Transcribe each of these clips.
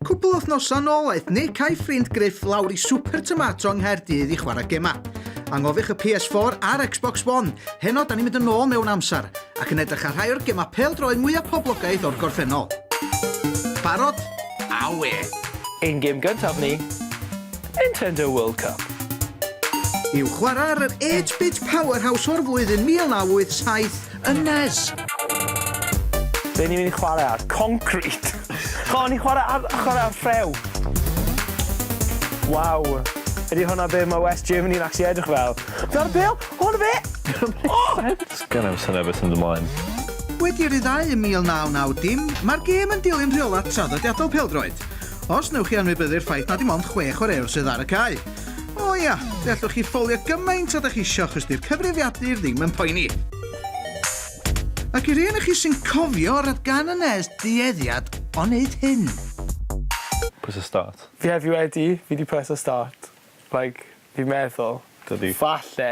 Cwpl o wythnosau nôl aeth Nick a'i ffrind Griff lawr i Super Tomato yng Nghaerdydd i chwarae gemau. Anghofiwch y PS4 a'r Xbox One, heno da ni'n mynd yn ôl mewn amser, ac yn edrych ar rhai o'r gemau pêl-droed mwyaf poblogaidd o'r gorffennol. Barod? Awe! Ein gêm gyntaf ni, Nintendo World Cup. I'w chwarae ar yr 8-bit powerhouse o'r flwyddyn 1987, yn Nez. Be ni'n mynd i chwarae ar? Concrete! Chon i chwarae ar, chwarae ar ffrew! Waw! Ydy hwnna be mae West Germany yn actually edrych fel? Dyna'r bel! Hwn fe! Oh! Gan am syniad beth sy'n mynd ymlaen. Wedi ryddhau ym 1990, mae'r gêm yn dilyn rheolau traddodiadol pêl-droed. Os wnewch chi anwybyddu'r ffaith na dim ond chwe chwaraewr sydd ar y cae. O ia, fe allwch chi ffolio gymaint â da chi isio achos di'r cyfrifiadur ddim yn poeni. Ac i rei ohonoch chi sy'n cofio, roedd gan y nes dueddiad o wneud hyn. Press start. Fi heb fi wedi, fi di press start. Like, fi'n meddwl. Dydi. Falle.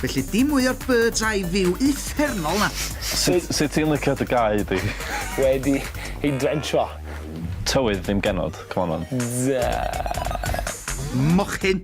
Felly dim mwy o'r bird's eye view uffernol 'na. Sut sut ti'n licio dy gae di? Wedi ei drensio. Tywydd ddim genod, come on man. Duh. Mochyn!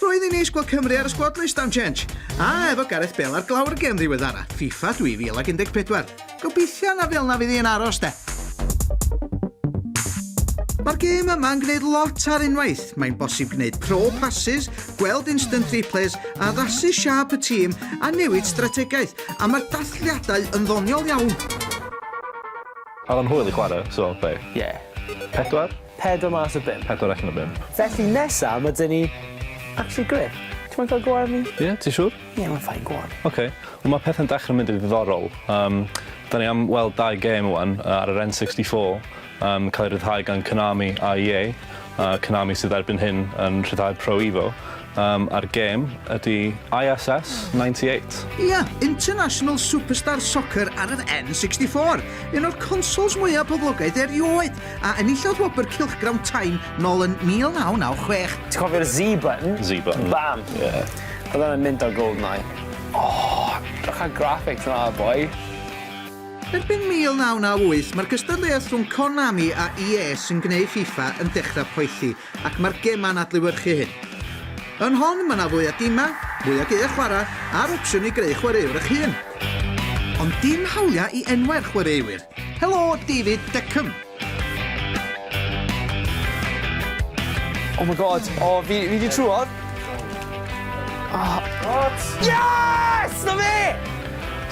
Roedd hi'n neis gweld Cymru ar y sgwad list am change. A efo Gareth Bale ar glawr y gem ddiweddara, FIFA 2014. Gobeithio na fel 'na fydd hi yn aros de. Mae'r gêm yma'n gwneud lot ar unwaith. Mae'n bosib gwneud pro passes, gweld instant replays, addasu siâp y tîm a newid strategaeth, a mae'r dathliadau yn ddoniol iawn. Alan Hwyl i chwarae, so beth? Ie. Pedwar? Pedwar mas o bump. Pedwar allan o bump. Felly nesa ma' dyn ni actually grêt. Ti moyn ca'l go ar fi? Ie? Ti siŵr? Ie ma'n fine go on. Ok. Wel ma' pethe'n dechre mynd yn ddiddorol. Yym 'dan ni am weld dau gêm ŵan yy ar yr N64 yn ca'l ei ryddhau gan Konami a EA yy Konami sydd erbyn hyn yn rhyddhau'r Pro Evo Yym, a'r gêm ydy ISS 98. Ia, International Superstar Soccer ar yr N64, un o'r consols mwyaf poblogaidd erioed, a enillodd wobr cylchgrawn Time nol yn 1996. Ti'n cofio'r Z button? Z button. Bam! Ie. Oedd hwnna'n mynd ar Goldeneye. O! Drych ar graphics yna, boi. Erbyn 1998, mae'r gystadleuaeth rhwng Konami a EA sy'n gwneud FIFA yn dechrau poethi. Ac mae'r gemau'n adlewyrchu hyn. Yn hon, mae 'na fwy o dimau, mwy o geuau chwarae, a'r opsiwn i greu chwaraewr eich hun. Ond dim hawliau i enwau'r chwaraewyr. Helo, David Beckham! Oh my God, o, fi, fi di trwodd. Oh. Yes! Na fe!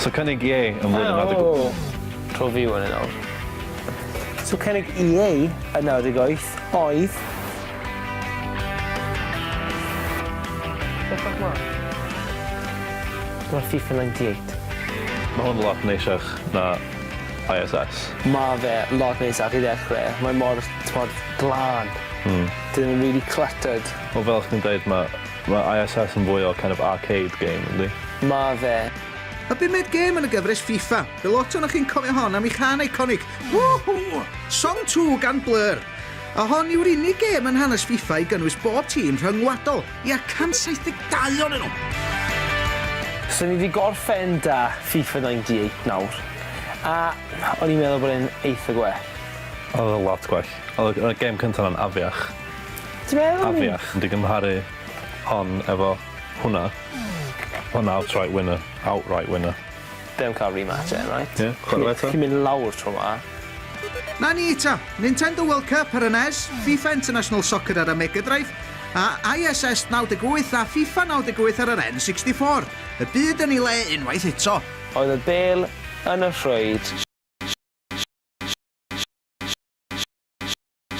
So cynnig ie yn flwyddyn yma. Tro fi wan yn awr. So cynnig EA yn 98 oedd... Bellach ma. Dyma FIFA 98. Ma hwn lot neisiach na ISS. Ma fe lot neisiach i ddechre, mae mor, t'mod, glân. Hmm. Dyw e ddim yn rili cluttered. Wel fel chdi'n deud ma ma ISS yn fwy o kind of arcade game yndi? Ma fe. Y bumed gêm yn y gyfres FIFA. Be lot ohonoch chi'n cofio hon am ei chân eiconig, Woohoo! Song Two gan Blur. A hon yw'r unig gêm yn hanes FIFA i gynnwys bob tîm rhyngwladol, ia, 172 ohonyn nhw! So ni 'di gorffen 'da FIFA 98 nawr, a o'n i'n meddwl bod e'n eitha gwell. Oedd o'n lot gwell. Oedd y gêm cynta 'na'n afiach. Ti'n meddwl? Afiach. Ond i gymharu hon efo hwnna, ma' hwnna outright winner, outright winner. Be am cael remater, right? Ie, chwarae fe 'to. Chi'n mynd lawr tro 'ma. Na ni ta! Nintendo World Cup ar y nes, FIFA International Soccer ar y Mega Drive, a ISS 98 a FIFA 98 ar yr N64. Y byd yn ei le unwaith eto. Oedd y bêl yn y rhwyd.